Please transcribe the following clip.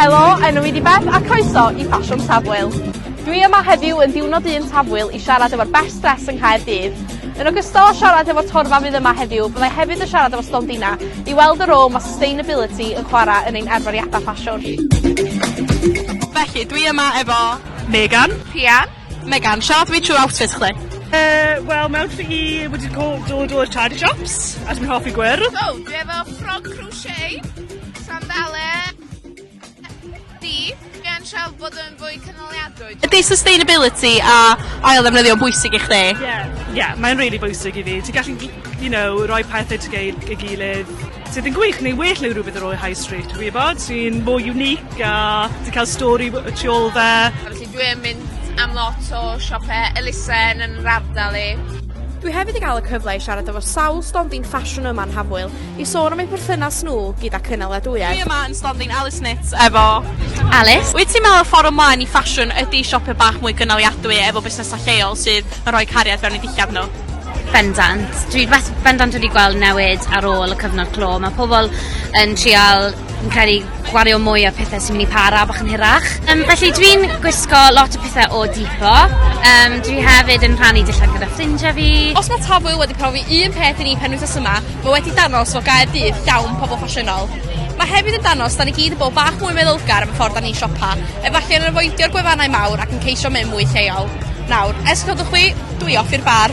Helo, enw i di Beth a croeso i Ffasiwn Tafwyl. Dwi yma heddiw yn diwrnod un Tafwyl i siarad efo'r Best Dress yng Nghaerdydd. Yn ogystal â siarad efo'r torfa fydd yma heddiw, byddai hefyd yn siarad efo stondina i weld y rôl mae sustainability yn chwarae yn ein arferiadau ffasiwn. Felly, dwi yma efo... Megan. Rhian. Megan, siarad fi trwy outfit chdi. Uh, Wel, mae outfit i wedi dod o'r o'r charity shops, a dwi'n hoffi gwyrdd. O, oh, dwi efo ffrog crochet, sandale, di, gan siarad bod yn fwy canoliadwy. Ydy sustainability a ail ddefnyddio bwysig i chdi? Ie, yeah, yeah, mae'n really bwysig i fi. Ti'n gallu, you know, rhoi pethau ti gael i gilydd sydd yn gwych neu well neu rhywbeth ar ôl High Street, dwi'n gwybod, sy'n more unique a ti'n cael stori y tu ôl fe. Dwi yn mynd am lot o siope elusen yn yr ardal i. Dwi hefyd i gael y cyfle i siarad efo sawl stondin ffasiwn yma yn Hafwyl i sôn am eu perthynas nhw gyda cynaliadwyedd. Dwi yma yn stondin Alice Knits efo Alice. Wyt ti'n meddwl y ffordd ymlaen i ffasiwn ydy siope bach mwy cynaliadwy efo busnesau lleol sydd yn rhoi cariad fewn i dillad nhw? Bendant. Dwi bendant wedi gweld newid ar ôl y cyfnod clo. Mae pobl yn trial Fi'n credu gwario mwy ar pethau sy'n mynd i para bach yn hirach. Um, felly dwi'n gwisgo lot o pethau o Depot. Um, dwi hefyd yn rhannu dillad gyda ffrindiau fi. Os mae Tafwyl wedi profi un peth i ni pen wythnos yma, mae wedi danos fod gair dydd llawn pobl ffasiynol. Mae hefyd yn danos da ni gyd yn bod bach mwy meddylgar am y ffordd da ni'n siopa, efallai yn avoidio'r gwefannau mawr ac yn ceisio mynd mwy lleol. Nawr, ers codwch chwi, dwi off i'r bar.